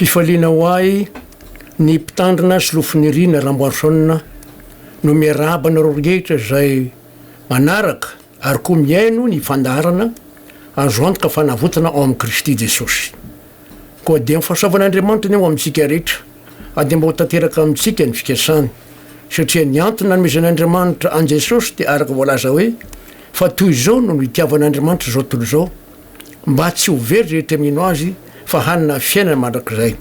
Fifaliana ho ahy ny mpitandrina sy lofoniriana Ramboason no miarahaba anareo rehetra izay manaraka ary koa mihaino ny fandaharana Azo antoka fanavotana ao amin'i Kristy Jesosy. Koa dia ny fahasoavan'Andriamanitra anie ho amintsika rehetra ary dia mba ho tanteraka amintsika ny fikasany satria ny antony nanomezan'Andriamanitra an'i Jesosy dia araka voalaza hoe, Fa toy izao no nitiavan'Andriamanitra izao tontolo izao, mba tsy ho very rehetra mino Azy fa hanana fiainana mandrakizay.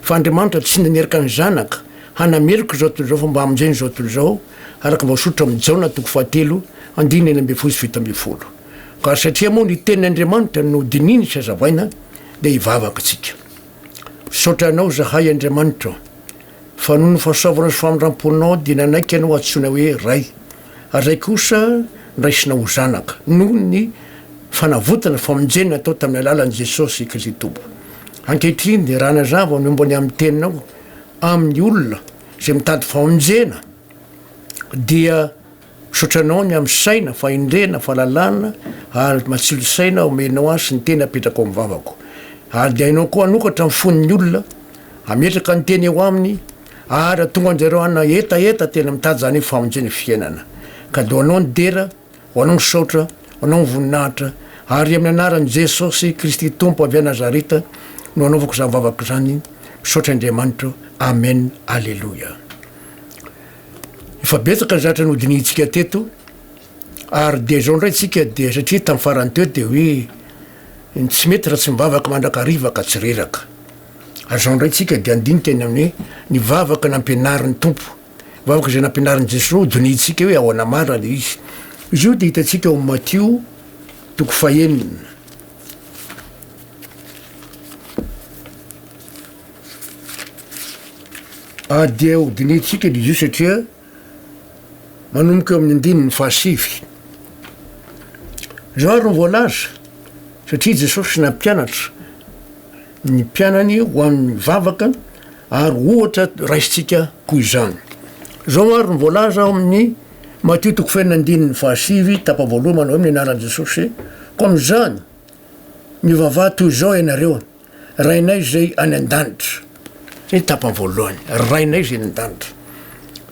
Fa Andriamanitra tsy nanerika ny Zanaka hanameloka izao tontolo izao fa mba hamonjena izao tontolo izao, araka ny voasoritra amin'ny Jaona toko fahatelo andininy enina ambin'ny folo sy fito ambin'ny folo. Ka satria moa ny tenin' Andriamanitra no dinihiny sy hazavaina dia hivavaka isika. Misaotra Anao izahay Andriamanitra. Fa noho ny fahasoavana sy famindram-ponao dia nanaiky anao antsoina hoe Ray, ary izay kosa noraisina ho zanaka, noho ny fanavotana sy famonjena natao tamin'ny alalan'i Jesosy Kristy Tompo. Ankehitriny dia raha nazava ny momba ny amin'ny Teninao amin'ny olona izay mitady famonjena dia. Misaotra anao ny amin'ny saina, fahendrena, fahalalana ary matsilo saina omenao ahy sy ny teny apetrako amin'ny vavako. Ary dia hainao koa hanokatra ny fon'ny olona, hametraka ny teny eo aminy ary hahatonga an-dry zareo hanana hetaheta tena mitady izany hoe famonjena fiainana. Ka dia ho anao ny dera, ho anao ny saotra, ho anao ny voninahitra ary amin'ny anaran'i Jesosy Kristy Tompo avy any Nazareta no anaovako izany vavaka izany. Misaotra Andriamanitro. Amen. Aleloia. Efa betsaka ny zatra nodinihintsika teto ary dia zao ndray tsika dia satria tam farany teo dia hoe ny tsy mety raha tsy mivavaka mandrakariva ka tsy reraka. Ary zao ndray tsika dia andinika ny amin'ny ny vavaka nampianarin'ny Tompo. Vavaka izay nampianarin'i Jesoa ho dinihintsika hoe ahoana marina ilay izy. Izy io dia hitantsika ao amin'ny Matio toko fahenina. Ady ho dinihintsika ny io satria manomboka eo amin'ny andininy fahasivy. Izao ary ny voalaza, satria Jesosy nampianatra ny mpianany ho amin'ny vavaka ary ohatra raisintsika koa izany. Izao ary ny voalaza ao amin'ny Matio toko fenina andininy fahasivy tapavoaloha manao amin'ny anaran'i Jesosy, koa amin'izany mivavaha toy izao ianareo. Rainay izay any an-danitra. Ny tapany voalohany, Rainay izay any an-danitra.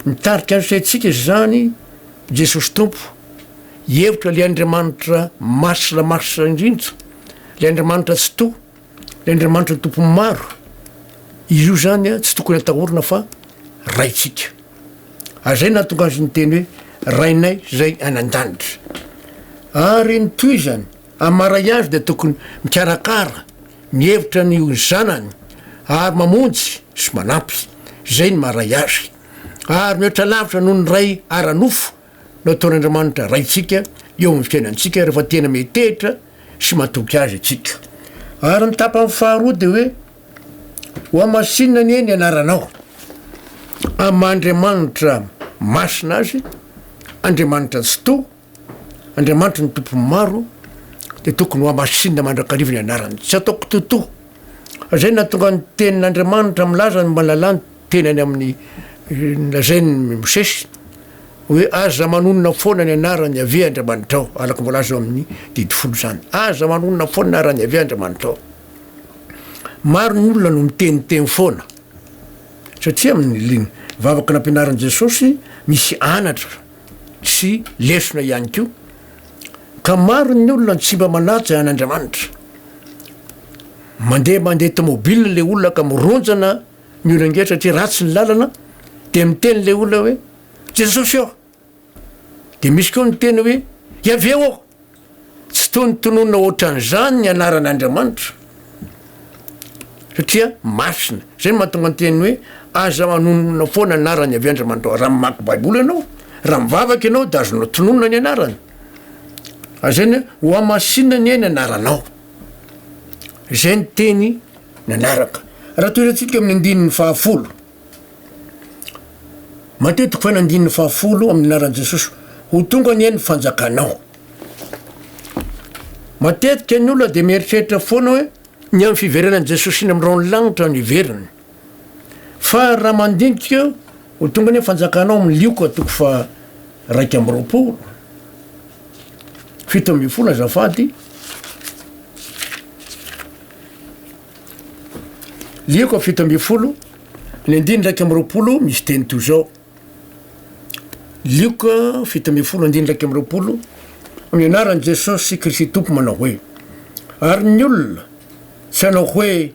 Mitarika ny saintsika izany Jesosy Tompo, hihevitra ilay Andriamanitra masina masina indrindra, ilay Andriamanitra Tsitoha, ilay Andriamanitra Tompon'ny maro. Izy io izany tsy tokony atahorana fa Raintsika. Ary izay nahatonga Azy niteny hoe, Rainay izay any an-danitra. Ary ny tohizany, Amin'ny maha ray azy dia tokony mikarakara, mihevitra ny ho zanany ary mamonjy sy manampy. Izay ny maha ray azy. Ary mihoatra lavitra noho ny ray ara-nofo no ataon'Andriamanitra Raintsika eo amin'ny fiainantsika rehefa tena metehitra sy matoky Azy isika. Ary ny tapany faharoa dia hoe, Hohamasinina anie ny anaranao amin'ny maha Andriamanitra masina Azy, Andriamanitra Tsitoha, Andriamanitry ny tompo maro dia tokony ho hamasinina mandrakariva ny anarany. Tsy ataoko toto. Izay no nahatonga ny tenin'Andriamanitra milaza ny malalà ny tenany amin'ny lazain'i Mosesy hoe aza manonona foana ny anaran'i Yaveh Andriamanitrao, araka ny voalaza ao amin'ny didy folo izany. Aza manonona foana ny anaran'i Yaveh Andriamanitrao. Maro ny olona no miteniteny foana satria amin'ny vavaka nampianarin'i Jesosy misy anatra sy lesona ihany koa, ka maro ny olona no tsy mba manaja an' Andriamanitra. Mandeha mandeha tomobil le olona ka mironjana ny olona nge satria ratsy ny lalana dia miteny le olona hoe Jesosy ô! dia misy koa miteny hoe Yaveh ô! Tsy tony tononina ohatran'izany ny anaran'Andriamanitra satria masina. Izay no mahatonga ny teniny hoe aza manonona foana ny anarany avy andry aman-drao. Raha mamaky baiboly ianao, raha mivavaka ianao dia azonao tononina ny anarany. Ary izay no hoe hohamasinina anie ny anaranao. Izay ny teny nanaraka. Raha toy izay tsika amin'ny andininy fahafolo. Matetiky fa nandininy fahafolo amin'ny anaran'i Jesosy, Ho tonga anie ny fanjakanao. Matetika ny olona dia mieritreritra foana hoe ny amin'ny fiverenan'i Jesosy eny amin'ny rahon'ny lanitra no hiveriny. Fa raha mandinika eo, Ho tonga anie ny fanjakanao amin'ny Lioka toko fa raika amby roapolo, fito ambin'ny folo azafady, Lieko fito ambin'ny folo, ny andininy iraika amby roapolo misy teny toy izao, Lioka fito ambin'ny folo andininy iraika amby roapolo, amin'ny anaran'i Jesosy Kristy Tompo manao hoe, Ary ny olona tsy hanao hoe,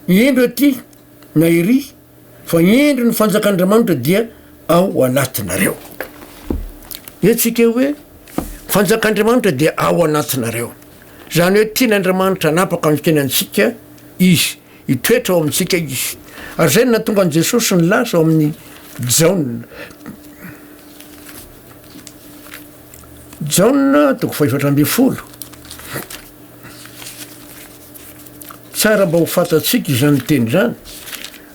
Indro aty, na Iry, Fa ny indro ny fanjakan'Andriamanitra dia ao anatinareo. Hetsika hoe fanjakan'Andriamanitra dia ao anatinareo. Zany hoe tian'Andriamanitra anapaka ny tena antsika izy, hitoetra ao amintsika izy. Ary zay natonga an'i Jesosy nilaza ao amin'ny Jaona. Jaona toko fahefatra ambin'ny folo. Tsara mba ho fantatsika izany teny izany.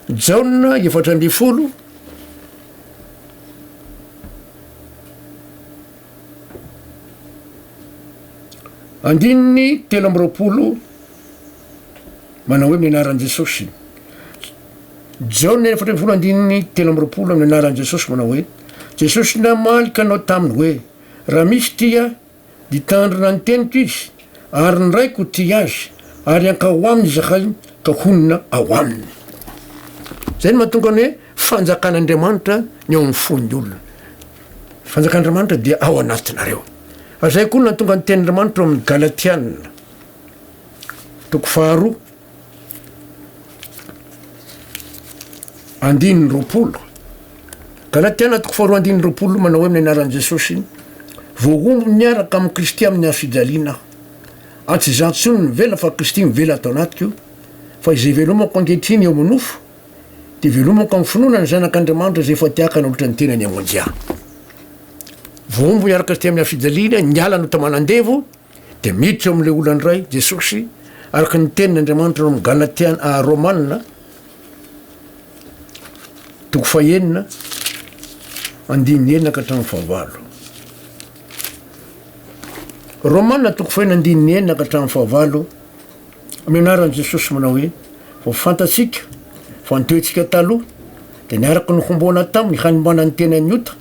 Jaona efatra ambin'ny folo andininy telo amby roapolo manao hoe mianaran'i Jesosy. Jaona efatra ambin'ny folo andininy telo amby roapolo amin'ny anaran'i Jesosy manao hoe Jesosy namaly kanao taminy hoe raha misy tia Nitandrina ny teniko izy, ary ny Raiko tia azy, ary hankao ho aminy izahay ka honina ao aminy. Izay no mahatonga ny hoe fanjakan'Andriamanitra ny ao amin'ny fon'ny olona. Ny fanjakan'Andriamanitra dia ao anatinareo. Ary izay koa no nahatonga ny tenin'Andriamanitra ao amin'ny Galatiana, toko faharoa. andininy roapolo ka na tena toko faharoa andininy roapolo manao hoe amin'ny anaran'i Jesosy voahombo miaraka amin'i Kristy amin'ny hafijaliana aho ary tsy izaho intsony no mivela fa Kristy mivela ato anatiko fa izay velomako ankehitriny eo amin'ny nofo dia velomako amin'ny finoana ny zanak'Andriamanitra izay efa tiaka nanolotra ny tenany hamonjy ahy voahombo miaraka Kristy amin'ny hafijaliana niala no tamanandevo Dia miditra ao amin'ilay olana iray Jesosy, araka ny tenin' Andriamanitra ao amin'ny Galatiana, ah, Romana, toko fahenina, andininy enina ka hatramin'ny fahavalo. Romana toko fahenina andininy enina ka hatramin'ny fahavalo, Amin'ny anaran'i Jesosy manao hoe, vao fantatsika fa ny toetsika taloha dia niaraka nohomboana taminy hanomana ny tenan'ny ota,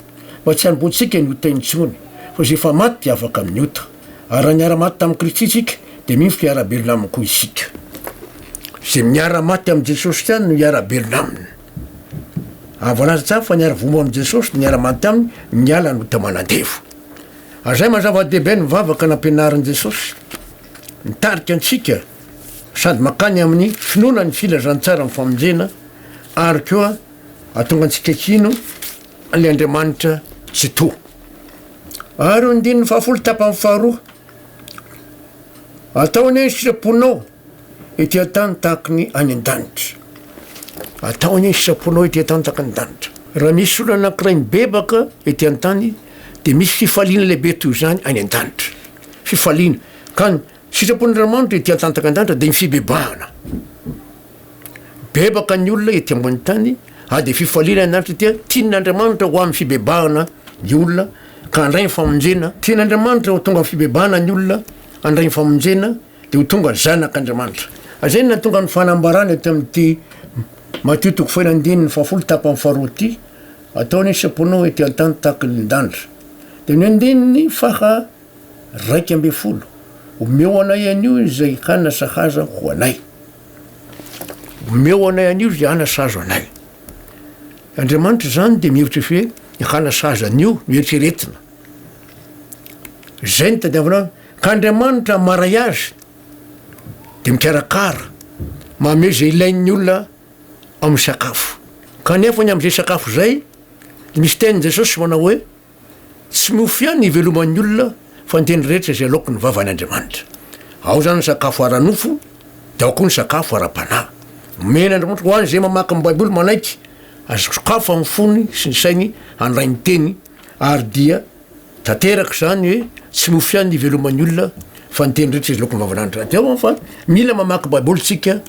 mba tsy hanomboantsika ny ota intsony, fa izay efa maty dia afaka amin'ny ota. Ary raha niara-maty tamin'i Kristy isika, dia mino fa hiara-belona aminy koa isika. Izay miara-maty amin'i Jesosy ihany no hiara-belona aminy. Ary voalaza tsara fa niara-voa amin'i Jesosy dia niara-maty aminy niala ny ota manandevo. Ary izay maha zava-dehibe ny vavaka nampianarin'i Jesosy. Mitarika antsika sady mankany amin'ny finoana ny filazantsaran'ny famonjena ary koa hahatonga antsika hino ilay Andriamanitra Tsitoha. Ary io andininy fahafolo tapany faharoa, Atao anie ny sitraponao ety an-tany tahaka ny any an-danitra. Atao anie ny sitraponao ety an-tany tahaka ny danitra. Raha misy olona anankiray mibebaka ety an-tany, dia misy fifaliana lehibe toy izany any an-danitra. fifaliana ka ny sitrapon'i Ramanitra ety an-tantakan-danitra dia ny fibebahana. Bebaka ny olona ety ambony tany ary dia fifaliana ny Andriamanitra dia tian'Andriamanitra ho amin'ny fibebahana ny olona ka handray ny famonjena. Tian'Andriamanitra ho tonga amin'ny fibebahana ny olona handray ny famonjena dia ho tonga zanak'Andriamanitra. Ary izay no nahatonga ny fanambarana eto amin'ity Matio toko fahenina andininy fahafolo tapany faharoa ity, Ataony ny sitraponao ety an-tany tahaka ny danitra. Dia ny andininy faha raika ambin'ny folo, Omeo anay anio izay hanasahaza ho anay. Omeo anay anio izay hanasahaza anay. Andriamanitra izany dia mihevitra fe ny hanasahaza anio no eritreretina. Izay ny tadiavina azy. Ka Andriamanitra maray azy dia mikarakara, mamezy ilain'ny olona amin'ny sakafo. Kanefa ny amin'izay sakafo izay, dia misy tenin'i Jesosy manao hoe, Tsy mofo ihany no iveloman'ny olona, fa ny teny rehetra izay aloaky ny vavan' Andriamanitra. Ao izany ny sakafo ara-nofo, dia ao koa ny sakafo ara-panahy. Omena Andriamanitra ho an'izay mamaky ny Baiboly manaiky, azo sokafany ny fony sy ny sainy handray ny teny, ary dia. tanteraka izany hoe tsy lofo ihany ny iveloman'ny olona fa ny teny rehetra izy lokon'ny vavan'Andriamanitra. Dia ao fa mila mamaky Baiboly tsika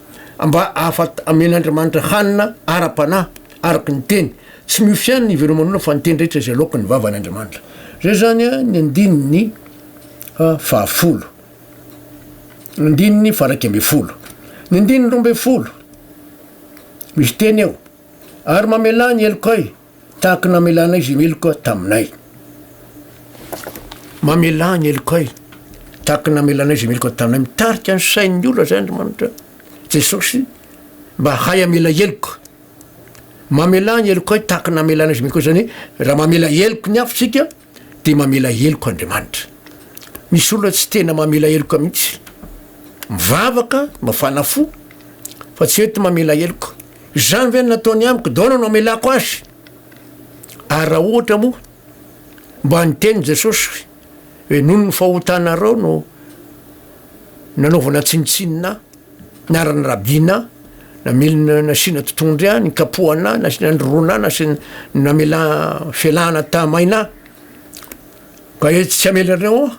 mba ahafat amen'Andriamanitra hanina ara-panahy araka ny teny. Tsy miofo ihany ny iveloman'ny olona fa ny teny rehetra izay lokon'ny vavan'Andriamanitra. Zay zany ny andininy fahafolo. Ny andininy faharaika ambin'ny folo. Ny andininy roa ambin'ny folo. Misy teny eo. Ary mamelà ny helokay. Tahaka ny namelanay izay meloka taminay. Mamelà ny helokay tahaka ny namelanay izay meloka taminay. Mitarika ny sain'ny olona izay Andriamanitra, Jesosy, mba hahay hamela heloka. Mamelà ny helokay tahaka ny namelanay izay meloka, izany hoe raha mamela heloky ny hafa isika, dia mamela heloka Andriamanitra. Misy olona tsy tena mamela heloka mihitsy. Mivavaka, mafana fo, fa tsy eto mamela heloka. Izany ve no nataony amiko? Daona no amelako azy. Ary raha ohatra moa, mba niteny Jesosy hoe noho ny fahotanareo no nanaovana tsinontsinona ahy. Niharan'ny rabiana aho, namely ny nasiana totohondry ahy, nikapohana ahy, nasiana nirona ahy, nasiana namela felahana tahamaina ahy. Ka hoe tsy hamela anareo aho,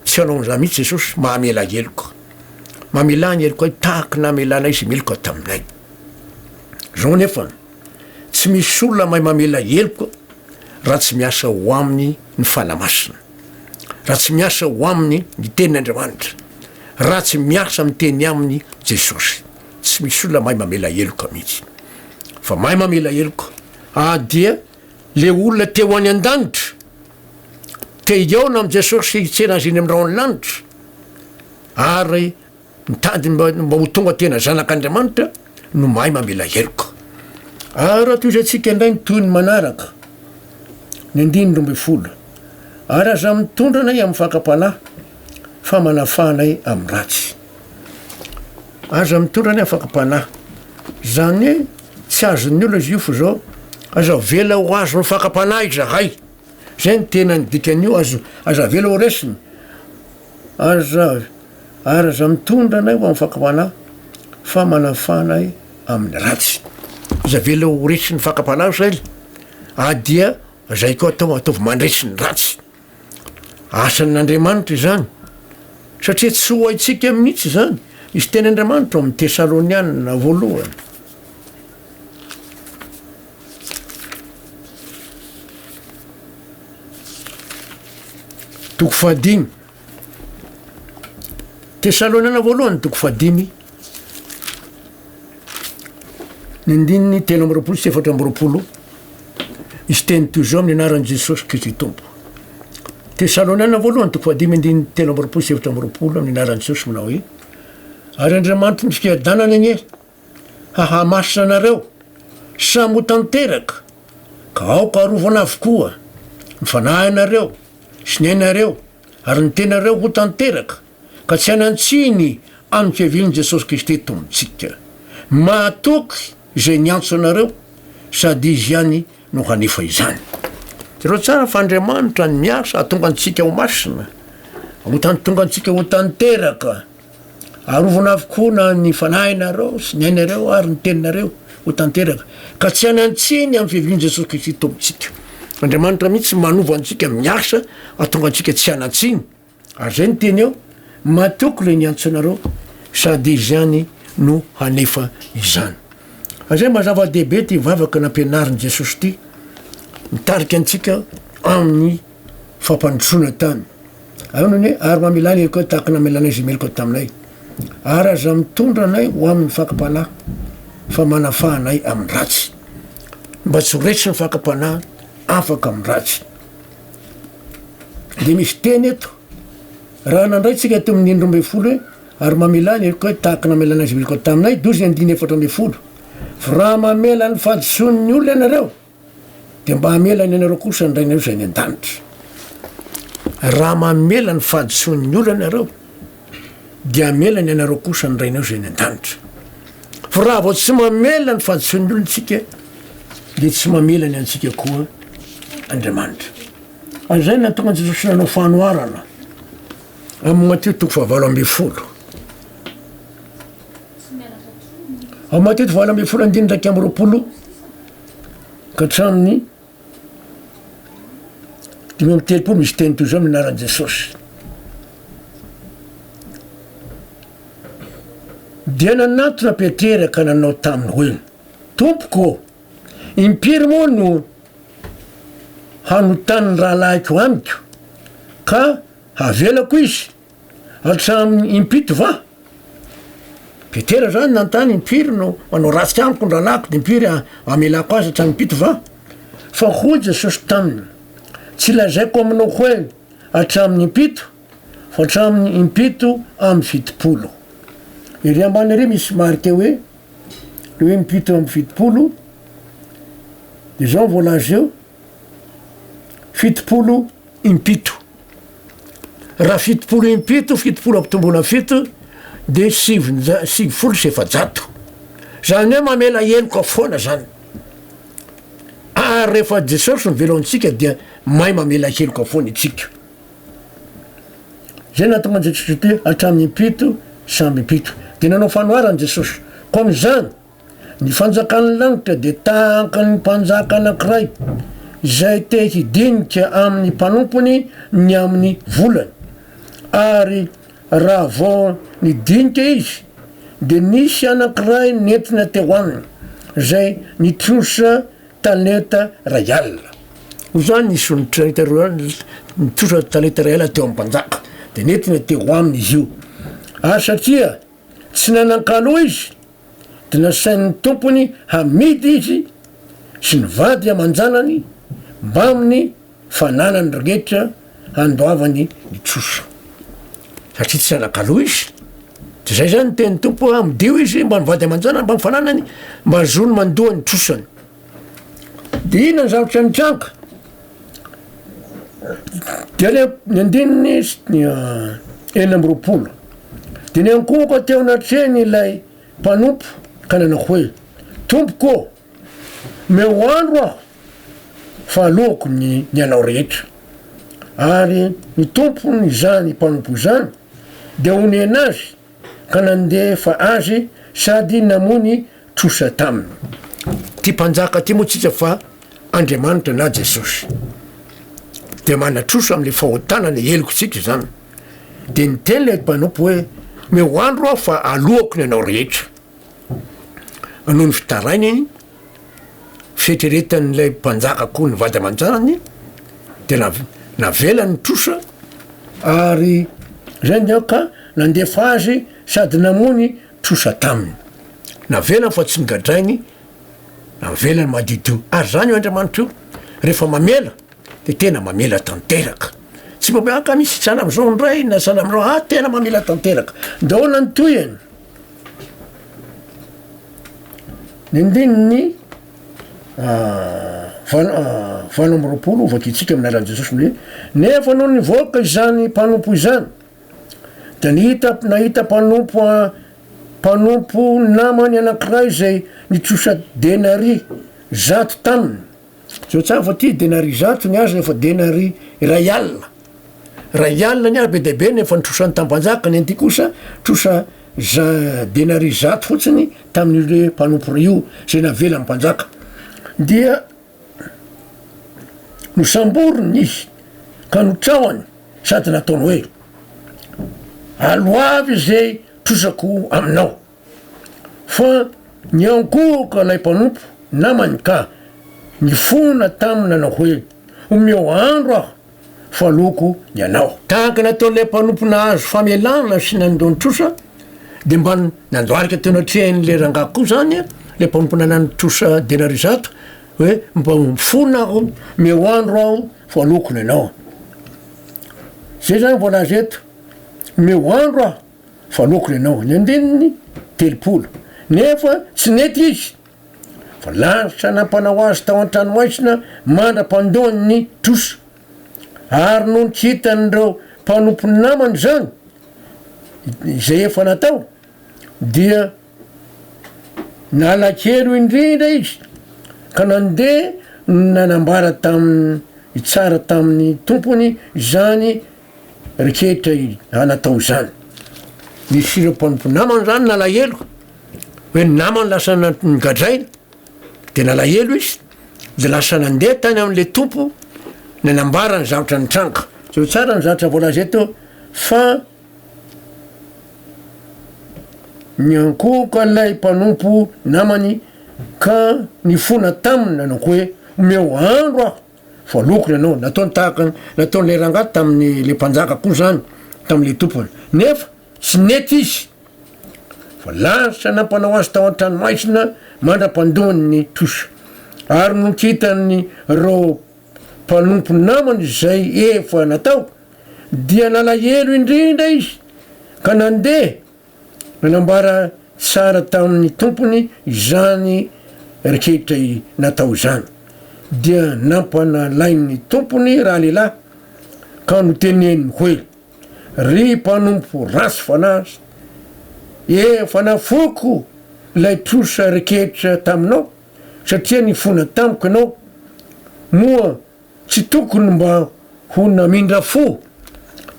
tsy hanao an'izany mihitsy Jesosy, mahamela heloka. Mamelà ny heloka ahy tahaka ny namelanay izay meloka taminay. Izao nefa, tsy misy olona mahay mamela heloka raha tsy miasa ho aminy ny Fanahy Masina. raha tsy miasa ho aminy ny tenin' Andriamanitra, raha tsy miasa miteny aminy Jesosy. Tsy misy olona mahay mamela heloka mihitsy. Fa mahay mamela heloka ah dia le olona te ho any an-danitra, te hihaona amin'i Jesosy hitsena azy eny amin'ny rahon'ny lanitra ary Mitady mba mba ho tonga tena zanak'Andriamanitra no mahay mamela heloka. Ary raha tohizantsika indray ny tohiny manaraka, ny andininy roa ambin'ny folo, Ary aza mitondra anay amin'ny fakam-panahy, fa manafaha anay amin'ny ratsy. Aza mitondra anay amin'ny fakam-panahy. Izany hoe tsy azon'ny olona izy io, fa izao, Aza avela ho azon'ny fakam-panahy izahay. Zay ny tena ny dikan'io azo aza avela ho resiny aza ary aza mitondra anay ho amin'ny fakam-panahy fa manafaha anay amin'ny ratsy. Aza avela ho resin'ny fakam-panahy zay ry a dia zay koa atao ataovy mandresy ny ratsy. Asan'Andriamanitra izany satria tsy ho haintsika mihitsy izany misy teny Andriamanitra ao amin'ny Tesalonianina voalohany. Toko fahadimy. Tesaloniana voalohany toko fahadimy. Ny andininy telo amby roapolo sy efatra amby roapolo. Izy teny toy izao amin'ny anaran'i Jesosy Kristy Tompo. Tesaloniana voalohany toko fahadimy andininy telo amby roapolo sy efatra amby roapolo amin'ny anaran'i Jesosy manao hoe ary Andriamanitry ny fiadanana anie hahamasina anareo samy ho tanteraka ka aoka arovana avokoa ny fanahinareo sy ny ainareo ary ny tenareo ho tanteraka ka tsy hanan-tsiny an'i Kevin Jesosy Kristy Tompontsika mahatoky izay niantso anareo sady Izy ihany no hanefa izany. Jereo tsara fa Andriamanitra no miasa hahatonga antsika ho masina, ho tan-tonga antsika ho tanteraka. Arovana avokoa na ny fanahinareo sy ny ainareo ary ny teninareo ho tanteraka, ka tsy hanan-tsiny amin'ny fiavian'i Jesosy Kristy Tompontsika. Andriamanitra mihitsy manova antsika, miasa hahatonga antsika tsy hanan-tsiny. Ary izay no teny ao, Matoky ilay niantso anareo, sady Izy ihany no hanefa izany. Izay mba zava-dehibe ity vavaka nampianarin'i Jesosy ity, mitarika antsika amin'ny. fampandrosoana tany. Ary hoy ny hoe, Ary mamelà ny helokao tahaka ny namelanay izay meloka taminay, ary aza mitondra anay ho amin'ny fakam-panahy, fa manafaha anay amin'ny ratsy, mba tsy ho raiso ny fakam-panahy afaka amin'ny ratsy. Dia misy teny eto, raha nandraitsika teo amin'ny indroa ambin'ny folo hoe, ary mamelà ny helokao tahaka ny namelanay izay meloka taminay, dozy ny andininy efatra ambin'ny folo. Fa raha mamela ny fahadisoan'ny olona ianareo, dia mba hamelany anareo kosa ny Rainareo izay any an-danitra. Raha mamela ny fahadisoan'ny olana ianareo, dia hamelany anareo kosa ny Rainareo izay any an-danitra. Fa raha vao tsy mamela ny fahadisoan'ny olona isika, dia tsy mamela ny antsika koa Andriamanitra. Ary izay nahatonga Jesosy nanao fanoharana amin'ny Matio toko fahavalo ambin'ny folo. Ao Matety valo ambin'ny folo andininy iraika amby roapolo ka hatramin'ny dimy amby telopolo misy teny toy izao amin'ny anaran'i Jesosy. Dia nanatona Petera ka nanao taminy hoe Tompoko, impiry moa no hanotan'ny rahalahiko amiko ka havelako izy? Hatramin impito va? Petera zany nanontany impiry no manao ratsy amiko ny rahalahiko de impiry amelako azy hatramin impito va? Fa hoy Jesosy taminy, tsy lazaiko aminao hoe hatramin impito fa hatramin impito amby fitopolo. Ery ambany ery misy marika hoe le hoe impito amby fitopolo de zao voalaza eo fitopolo impito. Raha fitopolo impito, fitopolo ampitomboina fito dia sivinja- sivifolo sy efajato. Izany hoe mamela heloka foana izany. Ary rehefa Jesosy no velao antsika dia mahay mamela heloka foana itsika. Izay nahatonga an'i Jesosy ho tia hatramin'ny impito samby impito. Dia nanao fanoharana Jesosy. Koa amin'izany, Ny fanjakan'ny lanitra dia tahakan'ny mpanjaka anankiray izay te hidinika amin'ny mpanompony ny amin'ny volany, ary raha vao nidinika izy dia nisy anankiray nentina teo aminy izay nitrosa talenta iray alina. Noho izany nisy olon-talenta roa alina nitrosa talenta iray alina teo amin'ny mpanjaka, dia nentina teo aminy izy io, ary satria tsy nanan-kaloa izy, dia nasain'ny tompony hamidy izy sy ny vady aman-janany mbamin'ny fananany rehetra handoavany ny trosa, satria tsy anakalo izy. Dia izay izany ny tenin'ny Tompo, Amidio izy mbamin'ny vady aman-janany mbamin'ny fananany, mba hahazoany mandoa ny trosany. De inona ny zavatra nitranga? De any amin'ny andininy enina amby roapolo, de niankohoka teo anatrehany ilay mpanompo ka nanao hoe, Tompoko ô, omeo andro aho fa aloako ny ny anao rehetra. Ary ny tompony izany mpanompo izany de honena azy. ka nandefa azy sady namono trosa taminy. Ty mpanjaka ty moa tsika fa Andriamanitra na Jesosy. Dia manatrosa amle fahotana ny heloky tsika izany. Dia niteny le mpanompo hoe meo andro aho fa aloako ny anao rehetra. Noho ny fitarainany, fieritreretan'ilay mpanjaka koa ny vady aman-janany de nav- navelany trosa ary zay ny aoka nandefa azy sady namony trosa taminy navelany fa tsy nogadrainy navelany madidio ary zany io andriamanitra io rehefa mamela de tena mamela tanteraka tsy mba miaka misy sahala am'zao ndray na sahala am'zao ah tena mamela tanteraka de ahoana ny tohiny Ny andininy valo valo amby roapolo ho vakintsika amin'ny alalan'i Jesosy ny hoe nefa nony nivoaka izany mpanompo izany dia nihita nahita mpanompo mpanompo namany anankiray izay nitrosa denaria zato taminy. Zao tsara fa ty denari zato ny azo efa denari iray alina ray alina ny azo be dia be ny efa nitrosan'ny tampanjaka ny an'ity kosa trosa za denari zato fotsiny tamin'io le mpanompo ray io zay navelan'ny mpanjaka dia nosamboriny izy ka notrahany sady nataony hoe aloavy izay trosako aminao Fa niankohoka ilay mpanompo namany ka nifona taminy nanao hoe, Omeo andro aho, fa loko ny anao. Tahaka ny ataon'ilay mpanompo nahazo famelana sy nandon trosa, dia mba nandoarika teo anatrehan'ilay rangahy koa izany ilay mpanompo nanano trosa denaria zato hoe, Mba mifona aho, omeo andro aho, fa loko ny anao. Izay izany vao laza eto, Omeo andro aho. Fa loko le naovany andininy telopolo nefa tsy nety izy fa lalitra nampanao azy tao an-tranomaizina mandra-pandoany ny trosa. Ary nony tsy hitan'ireo mpanompony namany izany izay efa natao dia nalahelo indrindra izy ka nandeha nanambara tamin'ny tsara tamin'ny tompony izany Ry kely i Ana tao izany. Nisy ireo mpanompo namany izany nalahelo, hoe ny namany lasa nogadraina, dia nalahelo izy, dia lasa nandeha tany amin'ilay tompo nanambara ny zavatra nitranga. Jereo tsara ny zavatra voalaza eto fa niankohoka ilay mpanompo namany ka nifona taminy nanao hoe omeo andro aho Voaloko ianao, nataony tahaka ny nataon'ilay rangahy tamin'ilay mpanjaka koa izany tamin'ilay tompony. Nefa tsy nety izy, fa lavitra nampanao azy tao an-tranomaizina mandra-pandoany ny trosa. Ary nony hitan'ireo mpanompo namany izay efa natao, dia nalahelo indrindra izy, ka nandeha Nanambara tsara tamin'ny tompony izany rehetra natao izany, dia nampanalain'ny tompony ralehilahy ka noteneniny hoe, Ry mpanompo ratsy fanahy, efa nafoiko ilay trosa rehetra taminao, satria nifona tamiko ianao, moa Tsy tokony mba ho namindra fo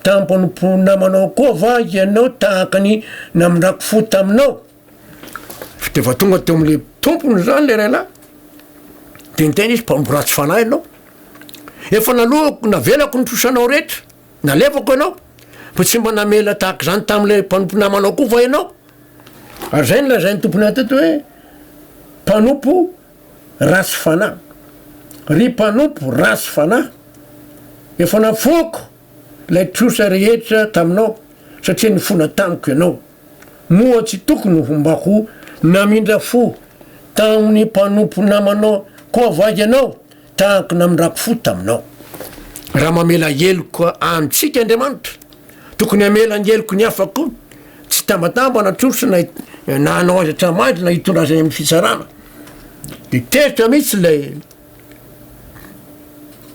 tampon'ny mpinamanao koa va ianao tahaka ny namindrako fo taminao? Fa dia efa tonga teo amin'ilay tompony izany ilay rahalahy, dia niteny izy, Mpamboly ratsy fanahy ianao. Efa naloako, navelako ny trosanao rehetra, nalefako ianao, fa tsy mba namela tahaka izany tamin'ilay mpanompo namanao koa va ianao? Ary izay no lazain'ny tompony anay teto hoe, Mpanompo, ratsy fanahy. Ry mpanompo ratsy fanahy, efa nafoako ilay trosa rehetra taminao satria nifona tamiko ianao. Moa tsy tokony ho mba ho namindra fo tamin'ny mpanompo namanao koa va ianao? Tahako namindrako fo taminao. Raha mamela heloka amintsika Andriamanitra, tokony hamela ny heloky ny hafa koa. Tsy hitambatamba na trosa na na hanao azy hatramangy na hitondra azy any amin'ny fitsarana. Dia teritra mihitsy ilay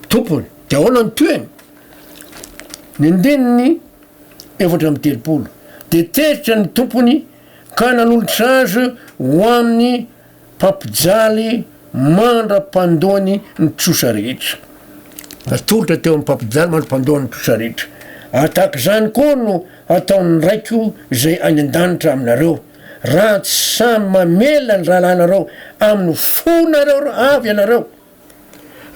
tompony. Dia ahoana ny tohiny? Ny andininy efatra amby telopolo. Dia teritra ny tompony ka nanolotra azy ho amin'ny Mpampijaly mandra-pandoany ny trosa rehetra. Natolotra teo amin'ny mpampijaly mandra-pandoany ny trosa rehetra. Ary tahaka izany koa no hataon'ny Raiko izay any an-danitra aminareo, raha tsy samy mamela ny rahalahinareo amin'ny fonareo avy ianareo.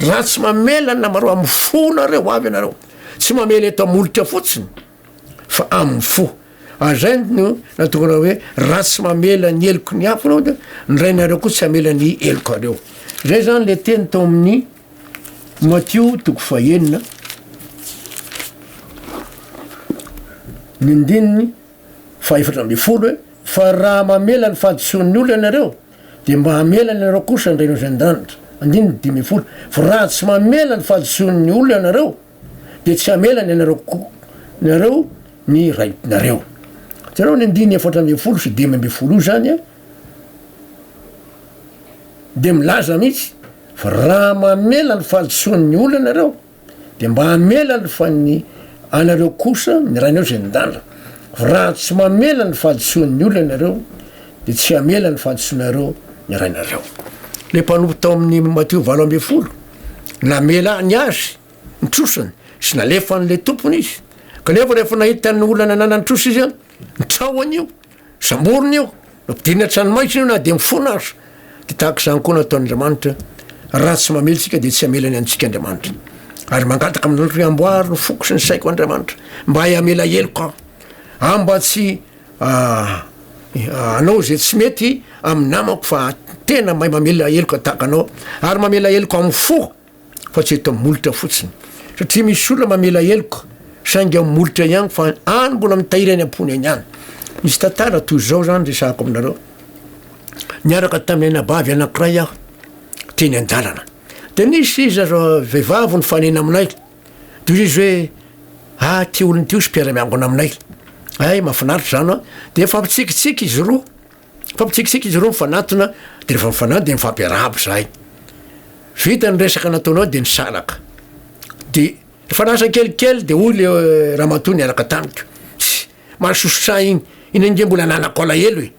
Raha tsy mamela ny namareo amin'ny fonareo avy ianareo. Tsy mamela eto am-molotra fotsiny. fa amin'ny fo. Ary izay no natongana hoe raha tsy mamela ny heloky ny hafa ianao dia ny Rainareo koa tsy hamela ny helokareo. Izay izany le teny tao amin'ny Matio toko fahenina ny ndininy fahefatra ambin'ny folo hoe fa raha mamela ny fahadisoan'ny olona ianareo dia mba hamela ianareo kosa ny Rainao izay an-danitra. Andininy dimy ambin'ny folo fa raha tsy mamela ny fahadisoan'ny olona ianareo dia tsy hamela ny anareo ko nareo ny right nareo jereo ny andiny efatra ambin'ny folo sy dimy ambin'ny folo io zany a de milaza mihitsy fa raha mamela ny fahadisoan'ny olona nareo de mba hamela ny fan'ny anareo kosa ny rainareo zay nidala fa raha tsy mamela ny fahadisoan'ny olona nareo de tsy hamela ny fahadisoanareo ny rainareo le mpanompo tao amin'ny matio valo ambin'ny folo Namela ny azy ny trosiny sy nalefa an'ilay tompony izy. Kanefa rehefa nahita ny olana ananan'ny trosa izy, nitrahona io, samborina io, nampidirina an-tranomaizina io na dia mifona aza. Dia tahaka izany koa no ataon'Andriamanitra, raha tsy mamely isika dia tsy hamelany antsika Andriamanitra. Ary mangataka amin'Andriamanitra hoe amboary ny foko sy ny saiko Andriamanitra, mba hay hamela heloka aho, mba tsy Aah anao izay tsy mety amin'ny namako fa tena mahay mamela heloka tahaka anao ary mamela heloka amin'ny fo fa tsy eto amin'ny molotra fotsiny satria misy olona mamela heloka saingy amin'ny molotra ihany fa any mbola mitahiry any am-pony any ihany misy tantara toy izao zany resahako aminareo niaraka tamin'ny anabavy anankiray aho teny an-dalana dia nisy izy aza vehivavy ny fanena aminay Tohizo izy hoe, ah ty olona ty hozy mpiara miangona aminay, hay mafinaritra zany an, de mifampitsikitsiky izy roa, mifampitsikitsiky izy roa mifanatona de refa mifanatona de mifampiarahaba zahay, vita ny resaka nataonao de nisaraka, de refa lasa kelikely de hoy le ramatoa niaraka tamiko, tssy mahasosotra iny, iny ange mbola ananako alahelo e,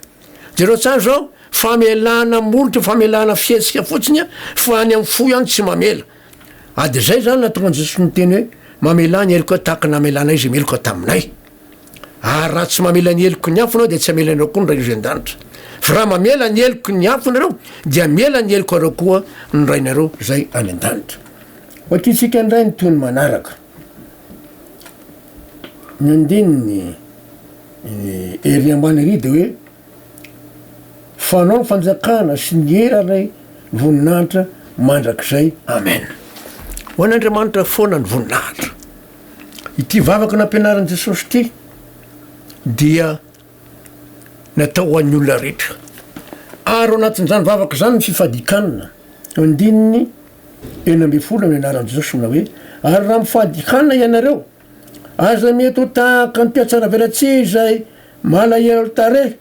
jereo tsara zao famelana molotra famelana fihetsika fotsiny an fa any amin'ny fo ihany tsy mamela, Ady izay izany nahatonga an'i Jesosy niteny hoe, Mamelà ny helokao tahaka ny namelanay izay meloka taminay. Ary raha tsy mamela ny heloky ny hafa ianao dia tsy hamela anao koa ny Rainao izay an-danitra. Fa raha mamela ny heloky ny hafa ianareo dia hamela ny helokareo koa ny Rainareo izay any an-danitra. Vakintsika indray ny tohiny manaraka. Ny andininy ery ambany ery dia hoe Fanao ny fanjakana sy ny hera ilay voninahitra mandrakizay Amen. Ho an' Andriamanitra foana ny voninahitra. Ity vavaka nampianarin'i Jesosy ity dia natao ho an'ny olona rehetra. Ary ao anatin'izany vavaka izany ny fifadikanana. Andininy enina ambin'ny folo ny anaran'i Jesosy manao hoe ary raha mifadikana ianareo Aza mety ho tahaka an'i Mpihatsaravelatsihy izay malahelo tarehy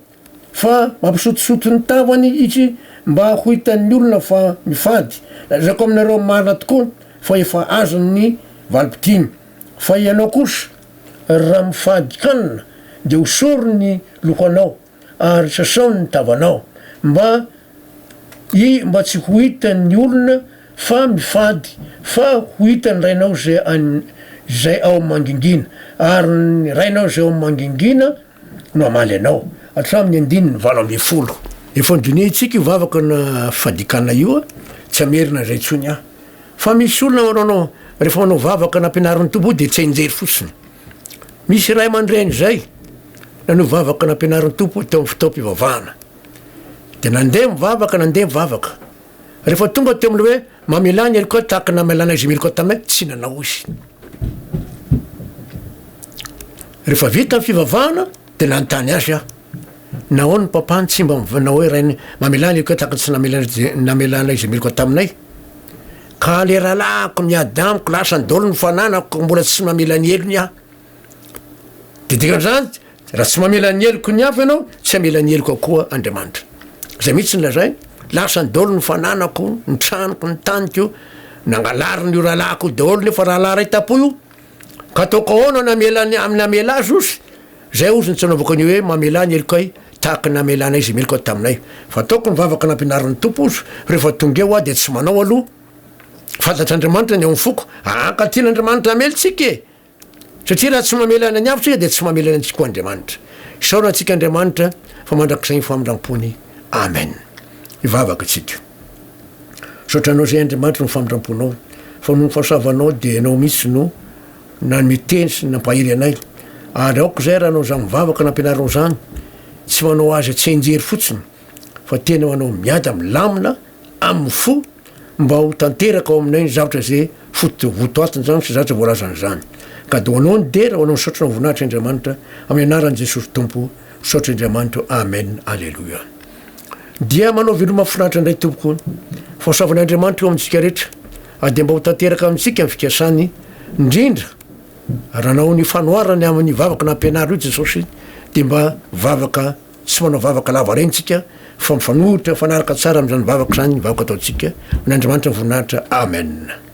fa mampisotisoty ny tavany itsy mba ho hitan'ny olona fa mifady. Lazaiko aminareo marina tokoa fa efa azony ny valim-pitiny. Fa ianao kosa raha mifady kanina dia hosorony ny lohanao ary sasao ny tavanao mba I mba tsy ho hitan ny olona fa mifady fa ho hitan ny Rainao izay any izay ao amin mangingina ary ny Rainao izay ao amin mangingina no hamaly anao hatramin ny andininy valo ambin'ny folo. Efa dinihintsika io vavaka na fadikana io a, tsy hamerina izay intsony aho. Fa misy olona manao anao rehefa manao vavaka nampianarin'ny Tompo dia tsy hainjery fotsiny. Misy ray aman-dreny izay nanao vavaka nampianarin'ny Tompo teo amin'ny fotoam-pivavahana. Dia nandeha mivavaka, nandeha mivavaka. Rehefa tonga teo amin'ilay hoe mamelà ny heloka tahaka ny namelàna izy ny heloka taminay, tsy nanao izy. Rehefa vita ny fivavahana, dia nanontany azy aho, nahoana ny papany tsy mba nanao hoe rainy, mamelà ny heloka tahaka ny tsy namelàna namelàna izy ny heloka taminay? Ka ilay rahalahiko miady amiko, lasa nidolo ny fananako, mbola tsy mamela ny helony aho. Dia dikan'izany, Raha tsy mamela ny heloko ny hafa ianao, tsy hamela ny heloko akoa Andriamanitra. Izay mihitsy no lazainy. Lasa ny daholo ny fananako, ny tranoko, ny taniko. Nangalariny io rahalahiko io daholo nefa rahalahy iray tapo io. Ka ataoko ahoana ny hamela ny amin'ny namela azy ozy? Izay ozy no tsy anaovako an'io hoe mamela ny helokay tahaka ny namelanay izay meloka taminay. Fa ataoko ny vavaka nampianarin'ny Tompo ozy, rehefa tonga eo aho dia tsy manao aloha. Fantatr'Andriamanitra ny ao amin'ny foko. Hankatỳ an'Andriamanitra hamely tsika e! Satria raha tsy mamelana ny hafa isika dia tsy mamelana antsika koa Andriamanitra. Isaorana antsika Andriamanitra fa mandrakizay ny famindram-pony. Amen. Hivavaka isika. Misaotra Anao izay Andriamanitra noho ny famindram-ponao, fa noho ny fahasoavanao dia Ianao mihitsy no nanome teny sy nampahery anay, ary aoka izay raha hanao izany vavaka nampianarinao izany, tsy manao azy tsy hianjery fotsiny, fa tena manao miada milamina amin'ny fo, Mba ho tanteraka ao aminay ny zavatra izay foto votoatiny izany sy zavatra voalazany izany. Ka dia ho anao ny dera, ho anao ny saotra ho voninahitry Andriamanitra, amin'ny anaran'i Jesosy Tompo, misaotra Andriamanitra, Amen, Aleloia. Dia manao veloma mahafinaritra indray Tompoko. Fahasoavan' Andriamanitra eo amintsika rehetra, ary dia mba ho tanteraka amintsika ny fikasany, indrindra raha nanao ny fanoharany amin'ny vavaka nampianarinao Jesosy, dia mba vavaka Tsy manao vavaka lava reny tsika fa mifanohitra mifanaraka tsara amin'izany vavaka izany ny vavaka ataontsika. Amin'Andriamanitra ny voninahitra. Amen.